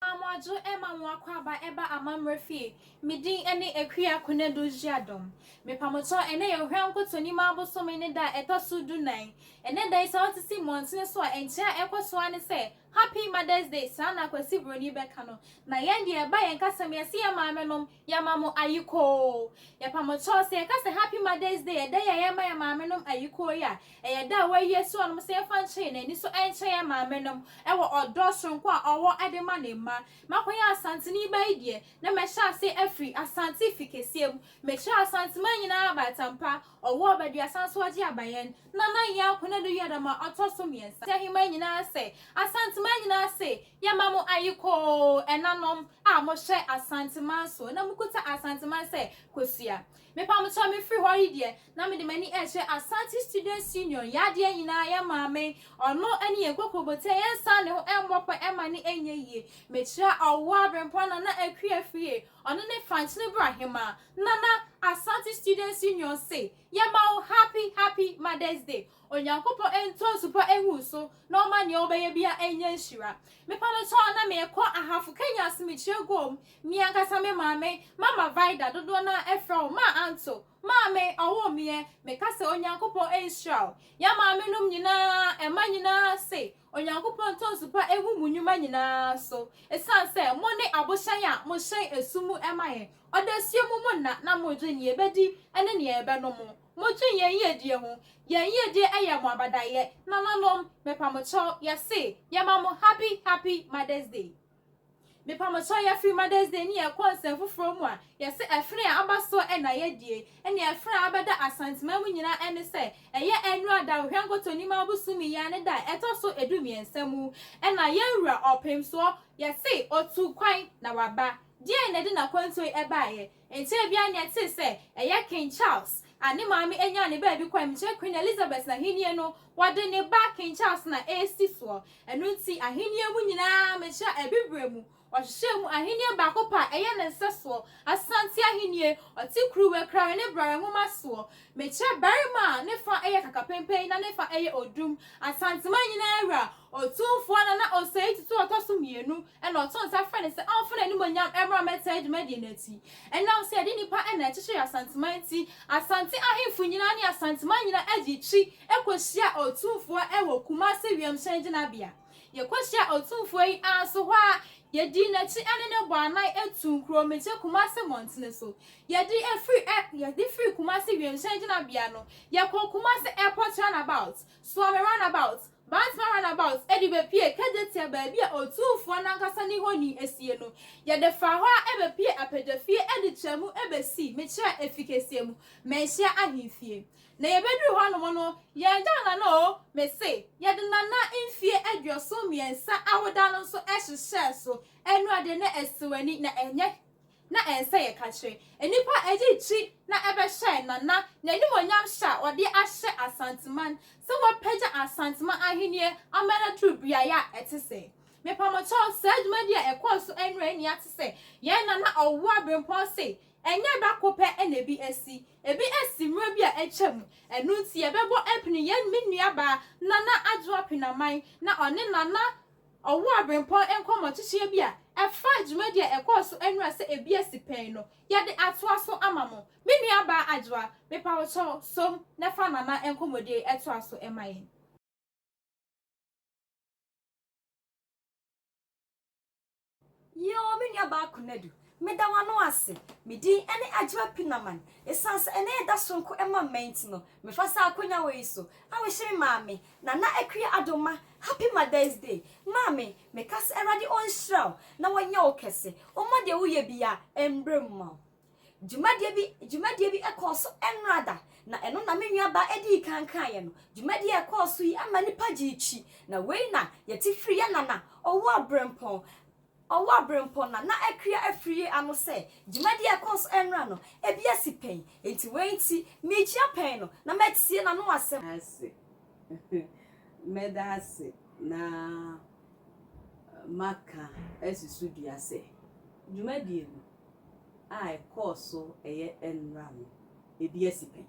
Amoadzu ma hɔn akɔaba ba amambra fie, me din ne Akua Konadu Zyiadom. Me pamotɔ, ɛnnɛ yɛ Ohwɛ Nkotɔnim abosome ne da a ɛtɔ so du nan. Ɛnnɛ da yi sɛ wosisi mmɔntene so a, nkyea a ɛkɔ so ara ne sɛ, Happy Mother's Day, saa na Kwasi Broni bɛka no. Na yɛn deɛ, ɛba yɛn kasam, yɛse yɛn maamenom, Yɛma mo ayikoo. Yɛpa mo kyɛw sɛ yɛka sɛ Happy Mother's Day, ɛda yi a yɛma yɛn maamenom ayikoo yi a ɛyɛ da a wɔayi asi hɔ nom sɛ yɛmfa nkyɛ yɛn ani so nkyɛ yɛn maamenom wɔ ɔdɔ soronko a ɔwɔ de ma ne mma. Makɔyɛ Asanteni ba yi deɛ na mɛhyɛ ase afiri Asante fi kɛseɛ mu. Mekyerɛ Asanteman nyinaa abaatan pa. Ɔwɔ Ɔbaduasa nso ɔgye aba yɛn Nana Yaa Konadu Yada ma ɔtɔ so mmiɛnsa. Aheman nyinaa ase, Asanteman nyinaa ase, yɛma mo ayekoo ɛnanom a mohyɛ Asanteman soɔ na mokuta Asanteman sɛ kosua. Mepamokyɛw mefiri hɔ yi deɛ na mede m'ani rekyerɛ Asante Students Union, yɛn adeɛ nyinaa, yɛn maame, ɔno ne yɛn kokurobotia, yɛnsan ne ho mmɔ pɔ mma no nyɛ yie. Mekyerɛ Ɔwɔ Abrempɔn Nana Akua Fie, Ɔno ne Frank Nubra Hemaa, Nana Asante Students Union se, Yɛma wo happy happy Mother's Day. Onyankopɔn ntɔ nsu pa ngu wo so na ɔma nea wobɛyɛ biara nyɛ nhyira. Mepa no kyɛw na merekɔ Ahafo Kenya Asomdwoeɛ Guom. Me ankasa me maame, Mama Vida, dodoɔ no ara frɛ wo Maa Anto, Maame, ɔwoo meɛ. Meka sɛ Onyankopɔn nhyira wo. Yɛn maamenom nyinaa, mma nyinaa se, Onyankopɔn tɔnso pa nhu mo nnwuma nyinaa so, esiane sɛ mo ne abohyɛn a mohyɛn ɛso mu ma yɛn. Ɔdɔ asie mo mo nna na modwen nea yɛbɛdi ne nea yɛbɛnom. Modwen yɛn yiedie ho. Yɛn yiedie yɛ mo abadaeɛ. Nananom, mepa mo kyɛw, yɛse, yɛma mo Happy Happy Mother's Day. Mepamsɔ yɛfiri Mother's Day ne yɛn kɔ nsɛm foforɔ mu a, yɛse ɛfene a aba soɔ na yɛdie, ɛne ɛfene a abɛda Asanteman mu nyinaa ɛne sɛ ɛyɛ Annual Da Ohwɛnkotoni ma Abosomi yi ara ne da a ɛtɔ so ɛdu mmiɛnsa mu na yɛn Wura Ɔpemsoɔ yɛse ɔtuu kwan na waba. Deɛn na ɛde n'akwantuo yi ɛbaeɛ? Nkyɛe biara ni a yɛtee sɛ ɛyɛ King Charles a ne maame nyaa ne baabi kɔe, mekyerɛ Queen Elizabeth n'ahenni no, wɔde ne ba King Charles na ɛresi soɔ. Ɛno nti ahenni mu nyinaa, mekyerɛ Abibirem, wɔhyehyɛɛ mu ahenni baako pɛ a ɛyɛ ne nsɛsoɔ, Asante ahenni, ɔte kuruwa kurawe ne brɛwe nwoma soɔ, mekyerɛ barima a ne fa yɛ kakapempɛn na ne fa yɛ odum, Asanteman nyinaa wura, Otumfoɔ no na ɔsɛe titiriw a ɔtɔ so mmienu, ɛnna ɔto nsa frɛ no sɛ ɔmfa n'animuonyam mmra mmɛtaa dwumadie no akyi. Ɛnam sɛ yɛde nnipa na ɛkyekyeree Asanteman nti, Asante ahemfo nyinaa ne Asanteman nyinaa gyee twi kɔhyiaa Otumfoɔ wɔ Kumase wiemhyɛn gyinabea. Yɛkɔhyiaa Otumfoɔ yi ara nso hɔ ara yɛdii n'akyi ne no bɔɔ anan tuu Nkuromigye Kumase mmɔntene so. Yɛde firi ɛ, yɛde firi Kumase wiemhyɛn gyinabea no, yɛkɔɔ Kumase Airport Runabout, Suomi Runabout, Bansma Runabout de bepuee Kejetia baabi a Otumfoɔ no ankasa ne honi sie no. Yɛde faa hɔ ara bepuee Apegyafie de traa mu besii Mekyerɛ Afi Kɛseɛ mu, Manhyia Ahemfie. Na yɛbeduruu hɔnom no, yɛgyaw Nana oo me se, yɛde Nana mfie aduɔson mmiɛnsa awoda no nso hyehyɛɛ so. Ɛnoa deɛ na ɛsɛ w'ani, na ɛnyɛ na ɛnsɛ yɛka kyerɛ nnipa ɛde gyi na ɛbɛhyɛɛ Nana n'animuonyam hyɛ a ɔde ahyɛ Asanteman sɛ wɔpagya Asanteman ahennie ama no aduru beaeɛ a ɛte sɛɛ. Mepa mo kyɛw, saa dwumadi a ɛkɔɔ so nnora nni ate sɛ yɛn Nana Ɔwoa Brempɔn se ɛnyɛ da ko pɛ na ebi asi, ebi asi mmerɛ bi a atwa mu, ɛno nti yɛbɛbɔ apini yɛn me nuabaa Nana Adwoa Penaman na ɔne Nana Ɔwɔ abirɛmpɔn nkɔmmɔ titire bi a ɛfa dwumadi a ɛkɔɔ so anura sɛ ebi asi pɛn no. Yɛde atoa so ama mo. Me nuabaa Adwoa, mepa wo kyɛw, som na fa Nana nkɔmmɔdie yi toa so ma yɛn. Yoo me nua baa Konadu, meda w'ano ase. Me din ne Adwoa Pinaman. Esiane sɛ ɛnnɛ yɛ da soronko ma mma nti no, mefa saa akonya wei so ahohyere Maame Nana Akua Addo ma. Happy Mother's Day, Maame! Meka sɛ Awurade ɔnhyira wo na ɔnyɛ wo kɛse. Ɔmma deɛ woyɛ biara mmere mma wo. Dwumadie bi dwumadie bi kɔɔ so nnora da, na ɛno na me nuabaa dii kan kaeɛ no. Dwumadie a ɛkɔɔ so yi ama nnipa gyee twi, na wei na yɛte firi yɛn nana, Ɔwoaberempɔn, Ɔwoaberempɔn Nana Akua Afriyie ano sɛ, Dwumadie a ɛkɔɔ so nnora no, ebi asi pɛn, enti wei nti, merekyia pɛn no na matie n'ano asɛm. ase. Mɛda ase na maka asusudua sɛ, dwumadie no, a ɛkɔɔ so yɛ nnora no, ebi asi pɛn.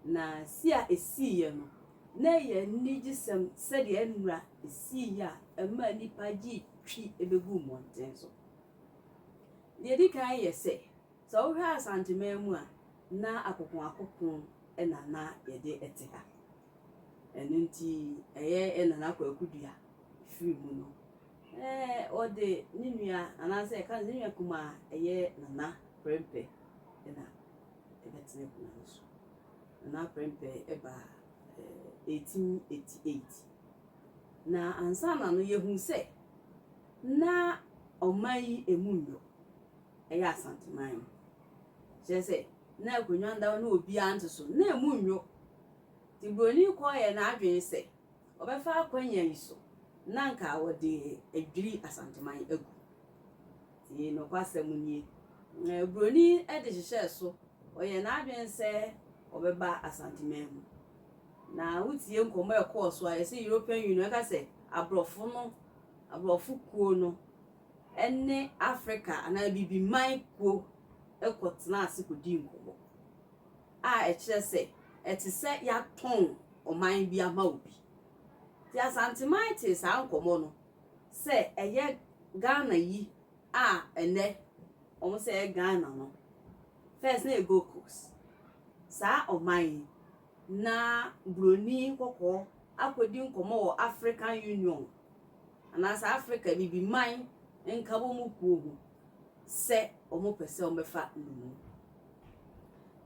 Na si a esiiɛ no, na ɛyɛ anigyesɛm sɛdeɛ nnora siiɛ a ɛmaa nnipa gye twi bɛguu mmɔnten so. Deɛ ɛdi kan yɛ sɛ, sɛ wohwɛ Asanteman mu a, na akokoakoko na na yɛde te ha. Ɛno nti, ɛyɛ Nana Kwaku Duah firi mu no, na ɔde ne nua anaasɛ yɛka no sɛ ne nua kumaa ɛyɛ Nana Prempeh na ɛbɛtena akonnwa no so. Nana Prempeh ɛbaa 1888. Na ansa na no yɛhu sɛ na ɔman yi ɛmu nnɔ, ɛyɛ Asanteman no. Kyerɛ sɛ na akonnwa no da hɔ na obiara nte so, na ɛmu nnɔ. Nti Buroni kɔeɛ n'adwene sɛ, Wɔbɛfa akwannya yi so na anka wɔde adwiri Asanteman agu. Enti nokwasɛm nie, Buroni de hyehyɛɛ so, ɔyɛɛ n'adwene sɛ ɔbɛba Asanteman mu. Na wotie nkɔmmɔ a ɛkɔɔ so a, yɛse European Union, ɛka sɛ aborɔfo no, aborɔfo kuo no ne Africa anaa Abibiman kuo kɔtenaa ase kɔdii nkɔmmɔ. a ɛkyerɛ sɛ ɛte sɛ yɛatɔn ɔman bi ama obi. Nti Asanteman tee saa nkɔmmɔ no sɛ ɛyɛ Ghana yi a ɛnnɛ wɔn sɛ ɛyɛ Ghana no, first na ɛyɛ Gold Coast, saa ɔman yi na Buroni kɔkɔɔ akɔdi nkɔmmɔ wɔ African Union anaasɛ Africa Abibiman nkabɔmu kuo ho sɛ wɔpɛ sɛ wɔbɛfa nnommum.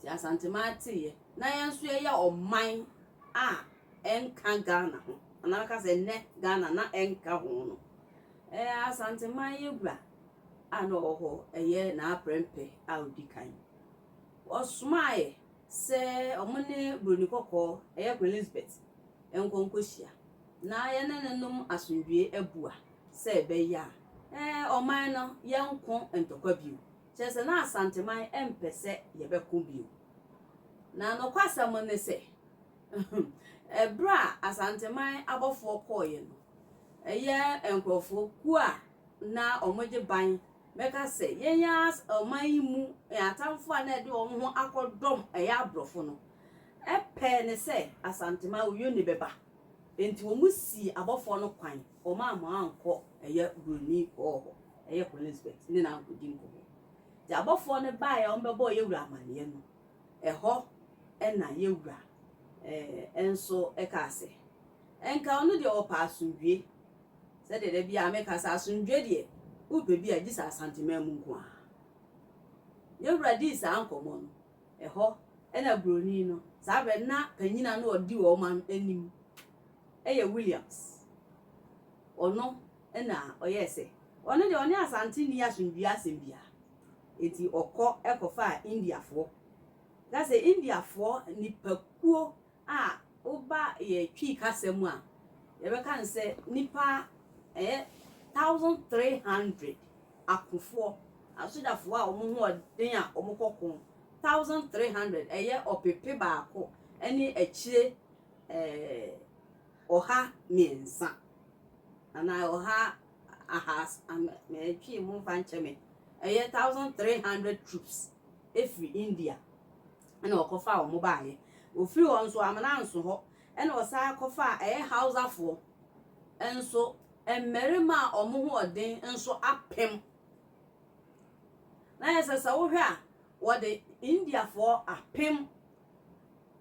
Te Asanteman teeɛ na yɛn nso yɛyɛ ɔman a ɛnka Ghana ho anaa mɛka sɛ nnɛ Ghana na ɛnka ho no ɛɛ Asanteman yɛ wura a na ɔwɔ hɔ ɛyɛ n'aprɛmpɛ a ɔdi kan ɔsomaeɛ sɛ ɔmo ne buroni kɔkɔɔ ɛyɛ Queen Elizabeth ɛnkɔ nkɔhyia na yɛne ne nom asomdwie abua sɛ ɛbɛyɛ a ɛɛ ɔman no yɛnko ntɔkwa bio Kyerɛ sɛ, na Asanteman mpɛ sɛ yɛbɛko bio. Na nokwasɛm ne sɛ, bere a Asanteman abɔfoɔ kɔeɛ no, ɛyɛ nkurɔfoɔ kuo a na wɔgye ban bɛka sɛ yɛn ara ɔman yi mu atamfoɔ a na ɛde wɔn ho akɔdɔm ɛyɛ aborɔfo no pɛɛ ne sɛ Asanteman, Oyioni bɛba. Enti wɔsii abɔfoɔ no kwan Wɔmaa mo ankɔ ɛyɛ Buroni kɔɔ hɔ, ɛyɛ Kolinsbɛt, ne no ankɔdi nkɔmmɔ. Nti abɔfoɔ no baeɛ a wɔbɛbɔɔ yɛ wura amaneɛ no, ɛhɔ na yɛ wura eh, nso kaa sɛ, Nka ɔno deɛ ɔpɛ asomdwie. Sɛdeɛ da biara meka sɛ asomdwie deɛ, wopɛ bi a, gye sɛ Asanteman mu nko ara. Yɛ wura dii saa nkɔmmɔ no, ɛhɔ na Buroni no, saa berɛ no na panyini a na ɔdi wɔn anim, yɛ Williams. Ɔno na ɔyɛɛ sɛ ɔno deɛ ɔne Asante nni asomdwoeɛ asɛm biara. Enti ɔkɔ kɔfaa Indiafoɔ. Ka sɛ Indiafoɔ nnipakuo a woba yɛn Twi kasa mu a, yɛbɛka no sɛ nnipa ɛyɛ thousand three hundred akofoɔ, asogyafoɔ a wɔn ho ɔden a wɔkɔ ko, thousand three hundred, ɛyɛ ɔpepe baako ne akyire ɔha mmiɛnsa anaa ɔha ahaas mɛtwee mo mfa nkyɛ me ɛyɛ thousand three hundred troops efiri India ɛna ɔkɔfa wɔn baayɛ ofiri hɔ nso amena nso hɔ ɛna ɔsan kɔfa ɛyɛ hausafoɔ nso mmarima a wɔn ho ɔden nso apem na yɛ sɛ sɛ wohwɛ a wɔde Indiafoɔ apem.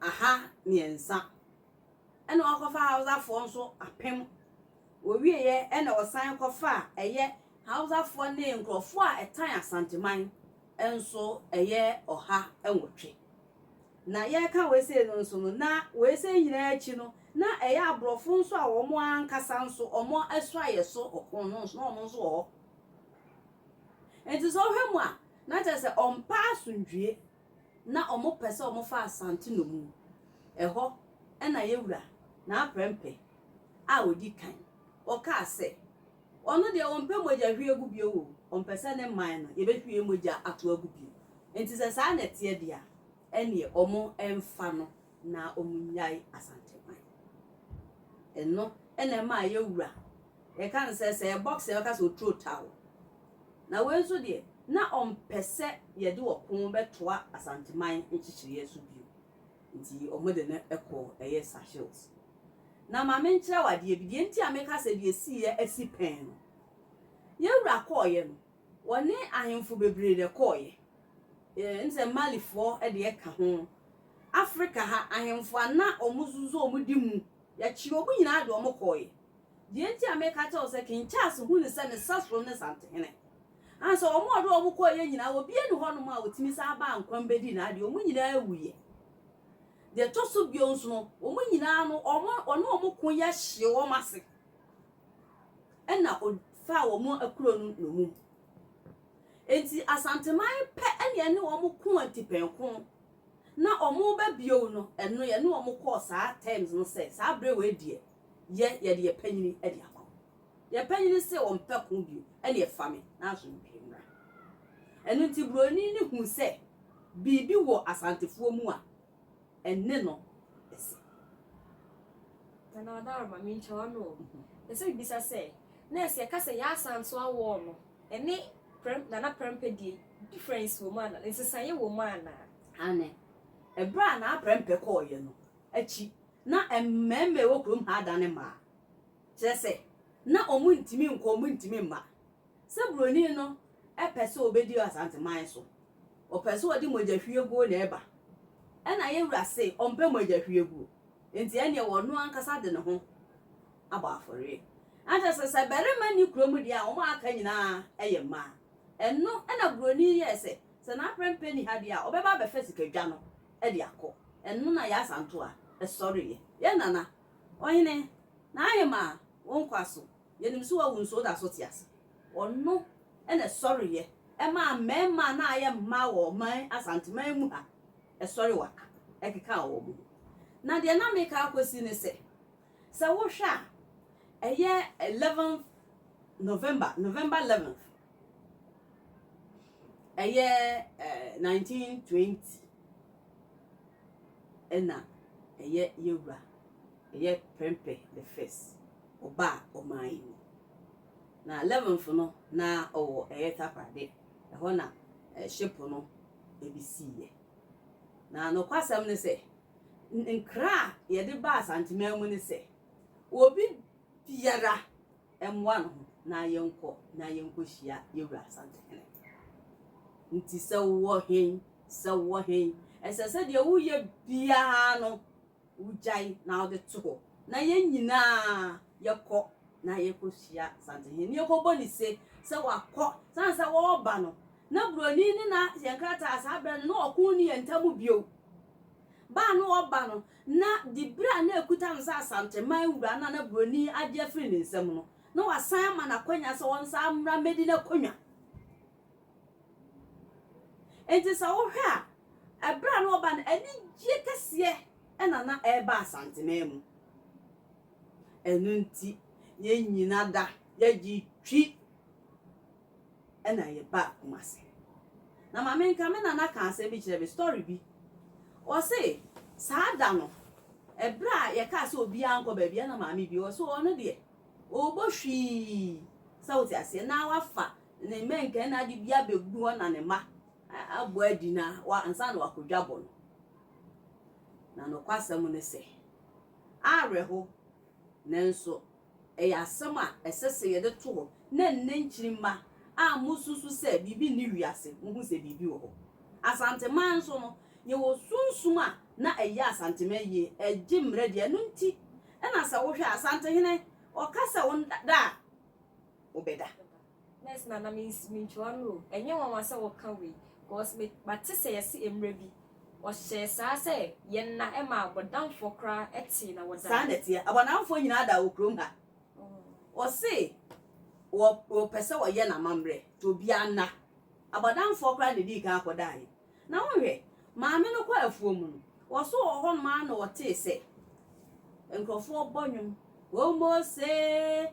aha mmiɛnsa ɛna ɔkɔfa Hausa foɔ nso apem ɔwieɛ ɛna ɔsan kɔfa ɛyɛ Hausa foɔ ne nkorɔfoɔ a ɛtan Asanteman nso ɛyɛ ɔha nwɔtwe na yɛreka wei sei no nso no na wei sei nyinaa akyi no na ɛyɛ aborɔfo nso a wɔn ankasa nso wɔn asuayɛ so ɔko no nso na wɔn nso wɔ hɔ nti sɛ wohwɛ mu a na kyerɛ sɛ ɔmpa asomdwie na wɔpɛ sɛ wɔfa Asante nnommum. Ɛhɔ na yɛwura n'aprɛmpɛ a ɔdi kan. Ɔkaa sɛ, ɔno deɛ ɔmpɛ mogya hwie gu bio o, ɔmpɛ sɛ ne man no yɛbɛhwie mogya ato agu bio. Nti sɛ saa na ɛteɛ deɛ a, ɛnneɛ wɔmfa no na wɔnyae Asanteman. Ɛno na ɛmaa yɛ wura, yɛka no sɛ sɛ yɛ box a yɛbɛka sɛ oturo taa wo. Na wei nso deɛ, na ɔmpɛ sɛ yɛde ɔko bɛtoa Asanteman nkyekyereɛ so bio. Nti wɔde no kɔɔ ɛyɛ Sahels. Na ma menkyerɛ wo adeɛ bi, deɛ nti a meka sɛ deɛ ɛsiiɛ asi pɛn no, yɛ wura kɔeɛ no, Wɔne ahemfo bebree na ɛkɔeɛ, ɛne sɛ Malifoɔ deɛ ka ho. Afrika ha, ahemfo a na wɔsosɔ wɔn di mu, wɔkyee wɔn nyinaa de wɔn kɔeɛ. Deɛ enti a mereka kyerɛ wo sɛ King Charles hu ne sɛ ne sasono ne Santehene. Aa sɛ wɔn a wɔde wɔn kɔeɛ nyinaa, obiara nni hɔnom a ɔtumi san baa nkwa mu bɛdii n'adeɛ, wɔn nyinaa wuiɛ. Deɛ ɛtɔ so bio nso no, wɔn nyinaa no, wɔn, wɔne wɔn ko yɛ hyee wɔn ase. na ɔfaa wɔn akuro no nnomum. Enti Asanteman pɛ na yɛne wɔn ko atipɛnko na wɔreba bio no, ɛno yɛne wɔn kɔɔ saa terms no sɛ saa berɛ wei deɛ yɛ yɛde yɛ panyini de akɔ. Yɛ panyini se wɔmpɛ ko bio ɛne ɛfa me na asomdwoeɛ mmra. Ɛno nti buroni no huu sɛ biribi wɔ Asantefoɔ mu a ɛne no asi. Nana Adaro, ma menkyɛ w'ano o. Mepɛ sɛ mebisa sɛ, nurse yɛka sɛ Yaa Asantewaa wall no, ɛne Prɛm, Nana Prɛmpɛ deɛ difference wɔ mu anaa? Nsesaeɛ wɔ mu anaa? Aane. Ɛberɛ a Nana Prɛmpɛ kɔeɛ no akyi na mmarima a ɛwɔ kurom ha adane mmaa. Kyerɛ sɛ, na wɔntumi nkɔ, wɔntumi mma. Sɛ Buroni no pɛ sɛ ɔbɛdi Asanteman so Wɔpɛ sɛ wɔde mogyahwieguo na ɛba. Ɛnna yɛn Wura se Ɔmpɛ mogyahwieguo. Enti ɛnneɛ Ɔno Ankasa de Ne ho abɔ afɔreɛ. Ɛnkyerɛ sɛ, sɛ barima nni kurom deɛ a, wɔn a aka nyinaa yɛ mmaa. Ɛno na Buroni yi yɛɛ sɛ, sɛ n'aprɛmpɛ nni ha deɛ a, ɔbɛba abɛfa sika dwa no de akɔ. Ɛno na Yaa Asantewaa sɔreeɛ. Yɛn Nana, Ɔhene, N'ahemaa, wo nkwa so. Yɛnim sɛ wawu nso da so te ase. Ɔno na ɛsɔreeɛ maa mmarima a na ayɛ mmaa wɔ ɔman Asanteman mu ha, ɛsɔre waka ɛkekaa wɔn ho. Na deɛ na meka akɔsi ne sɛ, sɛ wohwɛ a, ɛyɛ eleventh November, November eleventh, ɛyɛ eh, nineteen twenty, ɛna ɛyɛ yɛwura Yɛ prɛmpɛ the first ɔba a ɔmaa yi no na leventh no na ɔwɔ ɛyɛ takorade ɛhɔ na ship no ebi sii yɛ na nokwasɛm ne sɛ nkra a yɛde ba asanteman mu ne sɛ obi biara ɛmoa no ho na yɛnkɔ na yɛnkɔ hyia yɛwura asantehene nti sɛ wɔ hen sɛ wɔ hen ɛsɛ sɛ deɛ woyɛ biara no Wogyae na wɔde to hɔ, na yɛn nyinaa yɛkɔ na yɛkɔhyia Santehene na yɛkɔbɔ no se sɛ wakɔ. Sane sɛ wɔreba no, na buroni no na yɛn krataa saa berɛ no, na ɔko nni yɛn ntam bio. Ba a na ɔba no, na diberɛ a na ɛkuta no sɛ Asanteman wura no a na buroni yi agye afiri ne nsam no, na wɔasan ama no akwanya sɛ ɔnsan mmra mmɛdi n'akwannwa. Enti sɛ wohwɛ a, ɛberɛ a na ɔba no, anigyeɛ kɛseɛ na na ɛreba Asanteman mu. Ɛno nti, yɛn nyina da yɛgye twi na yɛbaa Kumase. Na ma menka, me nana kaa asɛm bi kyerɛ me, story bi. Ɔse, saa da no, ɛberɛ a yɛkaa sɛ obiara nkɔ baabi, ɛna maame bi, ɔse ɔno deɛ, ɔɔbɔ hwii, sɛ wote aseɛ, na wafa Ne mmɛnkɛn na ade bi abɛgu hɔ na ne mma abɔ adi na wa ansa na wakɔ dwabɔ no. Na nokwasɛm ne sɛ, awerɛho, nanso ɛyɛ asɛm a ɛsɛ sɛ yɛde to hɔ na nnɛ nkyirimma a mosusu sɛ biribi nni wiase, mohu sɛ biribi wɔ hɔ. Asanteman nso no, yɛwɔ sunsum a na ɛyɛ Asanteman yie, ɛgye mmerɛ di. Ɛno nti na sɛ wohwɛ a, Asantehene, ɔka sɛ wo da a, wobɛda. Nurse Nana me nsi me ntwi wano o ɛnyɛ nwanwa sɛ woka wei cause me mate sɛ yɛse mmerɛ bi wɔhyɛɛ saa sɛ yɛ nna ma abɔdamfoɔ koraa tee na wɔdaa. Saa na ɛteɛ abɔdamfoɔ nyinaa daa wɔ kurom ha wɔse wɔ wɔpɛ sɛ wɔyɛ no amammerɛ nti obiara nna abɔdamfoɔ koraa na ɛdii kan akɔdaaeɛ na wonhwɛ maame no kɔ afuo mu no wɔso wɔ hɔ nom ara na wɔtee sɛ nkurɔfoɔ bɔ nnwom Omose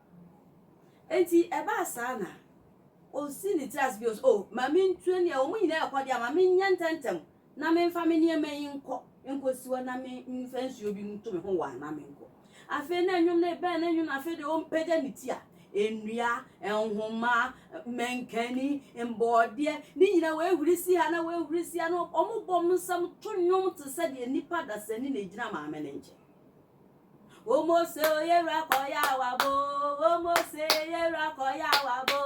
Enti ɛbaa saa na osii ne tiri ase bio sɛ, 'O, ma mintu aniɛm. Wɔn nyinaa rekɔ de a, ma menyɛ ntɛmntɛm na memfa me nneɛma yi nkɔ nkosi hɔ na memfa nsuo bi nto me ho waa na menkɔ. Afei na nnwom no rebɛn, na nnwom afei deɛ ɔmpagya ne ti a, nnua, nhoma, mankani, mbɔɔdeɛ, ne nyinaa wɔahuri si ha na wɔahuri si ha na wɔbɔ wɔn nsam to nnwom te sɛ deɛ nnipa dasani na ɛgyina maame no nkyɛn. Omose oyera kọ ya wa bo, omose yera kọ ya wa bo,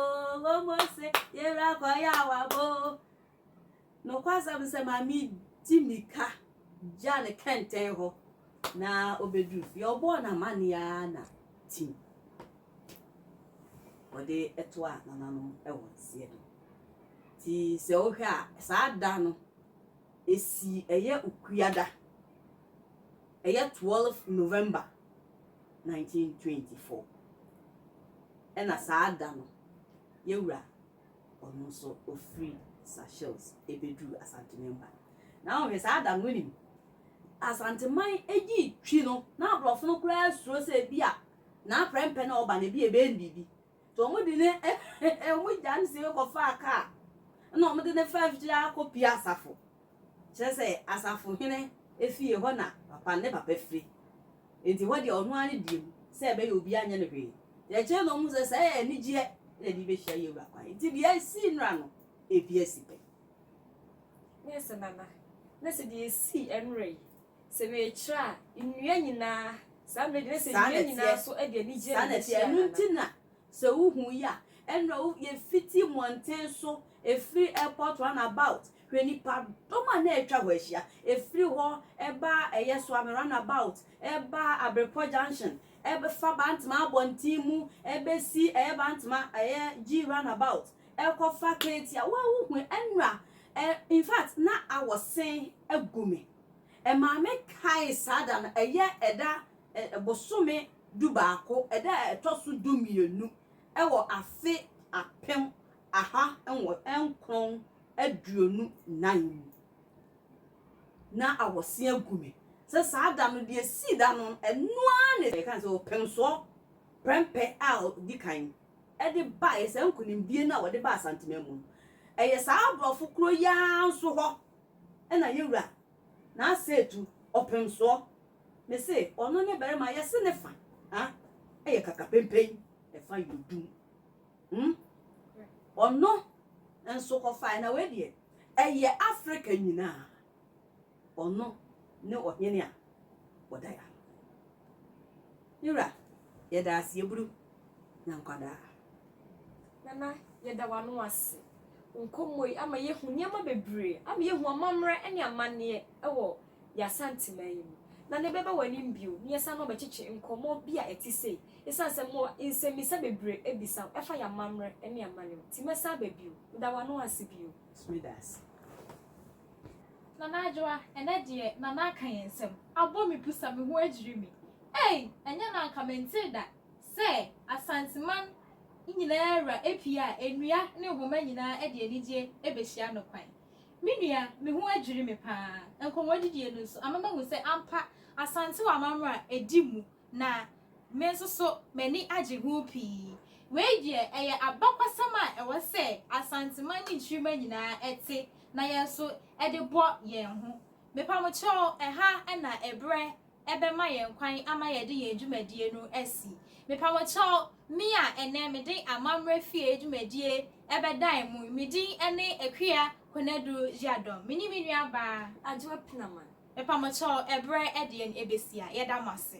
omose yera kọ ya wa bo. Nokwasɛm sɛ maame di mika gya ne kɛntɛn hɔ na obedu fie ɔbɔɔ n'amanneɛ ara na tim wɔde ɛto a nananom ɛwɔ nseɛ no ti sɛ wohwɛ a saa da no esi ɛyɛ okuada Ɛyɛ twelve November nineteen twenty four ɛna saa da no yɛwura ɔno nso ɔfiri Seychelles ɛbɛduru Asantemanmu ha. Na wohwɛ saa da no wonim Asanteman ɛdi twi no na aborɔfo no koraa suro sɛ ɛbi a n'aprɛmpɛ no a ɔba no ɛbi a ɛbɛyɛ no biribi Nti wɔn de ne wɔn gya no sie kɔ faa kaa ɛna wɔn de ne faa afikyiri akɔ pie asafo. Kyerɛ sɛ asafo hene efie hɔ na papa ne papa firi. Nti hɔ deɛ ɔno ara ne deɛ mu sɛ ɛbɛyɛ obi anyɛ no hwee. Nti akyire na wɔn hu sɛ sɛ ɛyɛ anigyeɛ na ɛde bɛhyia yɛn wura kwan. Nti deɛ esii nnora no ebi asi pɛ. Mese nana na sɛ deɛ esii nnora yi Sɛ mekyerɛ a, nnua nyinaa. Saa mmerɛ deɛ, na sɛ nnua nyinaa nso de anigyeɛ na ɛbɛkyerɛ anaa? Ɛno nti na sɛ wohu yi a, ɛnna wo, yɛfiti mmɔnten so, ɛfiri airport runabout, hwɛ nnipadɔm a na atwa hɔ ahyia, ɛfiri hɔ ba ɛyɛ Suame runabout, ɛba Abrepɔ junction, ɛfa Bantama abɔnten mu, ɛbɛsi ɛyɛ Bantama, ɛyɛ G runabout, ɛkɔfa Katie a, wo ara wohu, ɛnna ɛ, in fact, na awɔse agu me. Maame kae saa da no, ɛyɛ ɛda ɛ, bosome dubaako, ɛda a ɛtɔ so dumienu wɔ afe apem aha nwɔ, nkron aduonu nan mu. Na awɔse agu me sɛ saa da no, deɛ ɛsii da no, ɛno ara na ɛka ne sɛ ɔpemsoɔ prɛmpɛ a ɔdi kan de baeɛ, saa nkunimdie no a wɔde baa Asanteman mu no, ɛyɛ saa aborɔfo kuro yi ara nso hɔ Ɛna yewura n'aseetu ɔpemsoɔ me se ɔno ne barima yɛse ne fa ha yɛ kakapempen ɛfa yɛ odum hmm ɔno nso kɔfaɛ na wei deɛ ɛyɛ Africa nyinaa ɔno ne ɔhene a ɔda yɛ ano. Me wura, yɛda ase yɛburu na nkwadaa. Nana, yɛda w'ano ase. Wo nkɔmmɔ yi ama yɛahu nneɛma bebree, ama yɛahu amammerɛ ne amanneɛ wɔ yɛn Asanteman yi mu. Nana, yɛbɛba w'anim bio na yɛasan abɛkyekye nkɔmmɔ bi a ɛte sei, ɛsiane sɛ mowɔ nsɛmmisa bebree abisa wo ɛfa yɛn amammerɛ ne amanneɛ ho. Nti mɛsan aba bio. Meda w'ano ase bio. Nso meda ase. Nana Adwoa, ɛnɛ deɛ Nana aka yɛn nsɛm, abɔ me pusa, me ho adwiri me. Ei! Ɛnyɛ na anka mentee da sɛ Asanteman nyinaa wura apue a nnua ne nhoma nyinaa de anigyeɛ bɛhyia no kwan. Me nua, me ho adwiri me pa ara. Nkɔmmɔdidie no nso ama mahu sɛ ampa Asante wɔ amammerɛ a ɛdi mu Na me nso so m'ani agye ho pii. Wei deɛ ɛyɛ abakɔsɛm a ɛwɔ sɛ Asanteman ne Nkyirimma nyinaa te na yɛn nso de bɔ yɛn ho. Mepamokyɛw, ɛha na ɛberɛ bɛma yɛn kwan ama yɛde yɛn dwumadie no asi. Mepamokyɛw, me a ɛnnɛ mede Amammerɛ Fie dwumadie bɛdan mu yi, me din ne Akua Konadu Jadon. Me ne me nuabaa. Adwoa Penaman. Mpamokyɛw, ɛberɛ ɛdeɛn ɛbɛsi a, yɛda mo ase.